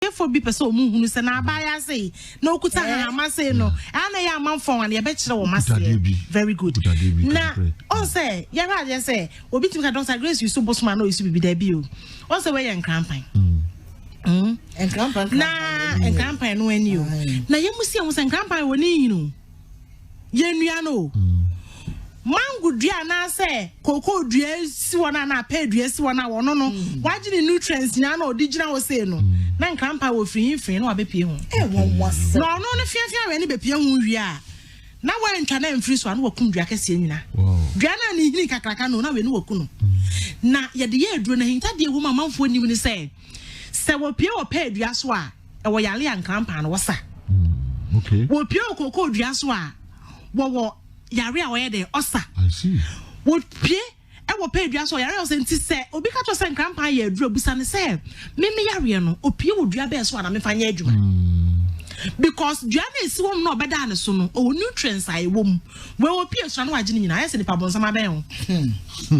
Ɔbɔneyɛfoɔ bi pɛ sɛ wɔn hunu sɛ n'abaayea sei, na ɔkuta hahama sei no, ɛa na ɛyɛ amanfoɔ nwa no, yɛbɛkyerɛ wɔn aseɛ. Very good. Na ɔn sɛ, yɛhwɛ adeɛ sɛ, obi tumi ka Dr. Grace yi so bosom a na ɔyi so bibi daabi o. Ɔn sɛ wɔyɛ nkrampan. Mm. Nkrampan. Na nkrampan no ani o. Na yɛn mu si ɛho sɛ nkrampan wɔ ne nyini o. yɛn nua no o mango dua anaasɛ koko dua si hɔ no anaa pɛɛ dua si hɔ no a wɔno no mm. wagye ne nutrients nyinaa na ɔde gyina hɔ sei no mm. na nkrampa wɔ firi hin firi na wabɛpie ho eh, na ɔno no fiafia wɛ ne bɛpie ho wie a na wantwa no amfiri so a na wakum dua kɛseɛ nyina dua no a ne hini kakraka no na wei ne waku no mm. na yɛde yɛ aduro no ahintadeɛ wɔ mu amanfoɔ nim ne sɛ Sɛ wɔpue wɔ pɛɛ dua so a, ɛwɔ yare a nkrampa no wɔsa. Mm, wɔpue wɔ kookoo dua so a, wɔwɔ yare a wɔyɛ dɛ ɔsa. Wɔpue ɛwɔ pɛɛ dua so a yare a ɔsɛ nti sɛ obi ka kyerɛ sɛ nkrampa yɛ aduro busa ne sɛ meme yareɛ no opue wɔ dua bɛɛ so a na mefa nyɛ adwuma. Mm. Because dua no esi wɔm na ɔbɛda ne so no ɔwɔ nutrients a ɛwɔ mu. Wɔpue sra no wagye ne nyinaa ayɛ sɛ nipa bɔnsam abɛn ho.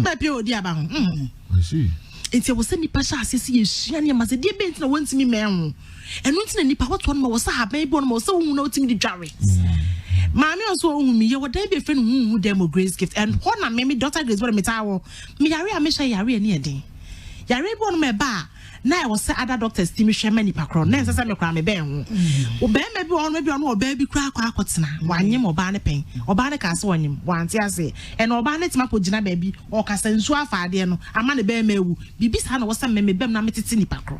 Bɛpue hmm. wɔ di aba ho. Hmm. I see. Nti ɛwɔ sɛ nipa hyɛ aseɛ sɛ yɛsua nneɛma sɛ deɛ bɛn nti na wɔntumi mmɛn ho ɛno nti na nipa wɔtoɔ no ma wɔ sɛ haban bi wɔ no ma wɔ sɛ wohu na wotumi de dware mm. maame ɔso ɔhu mi yɛwɔ dan bi ɛfrɛ no huhu dɛm wɔ grace gift and hɔ na me me daughter grace wɔde metaa wɔ meyare a mehyɛ yare ani ɛden yare bi wɔ no ma ɛba a na ɛwɔ sɛ ada doctors ti mi hwɛ ma nipa korɔ na ɛnsɛ sɛ mekora me bɛn ho mm. bɛrima bi ɔno bi ɔno ɔbaa bi kura akɔ akɔtena mm. wanyem ɔbaa ne pɛn ɔbaa ne kaa sɛ wanyem wante ase ɛna ɔbaa ne tema kɔ gyina baabi ɔkasa nsuo afa adeɛ no ama ne bɛrima awu biribi saa na wɔsɛ mmɛmɛ bɛm na metete nipa korɔ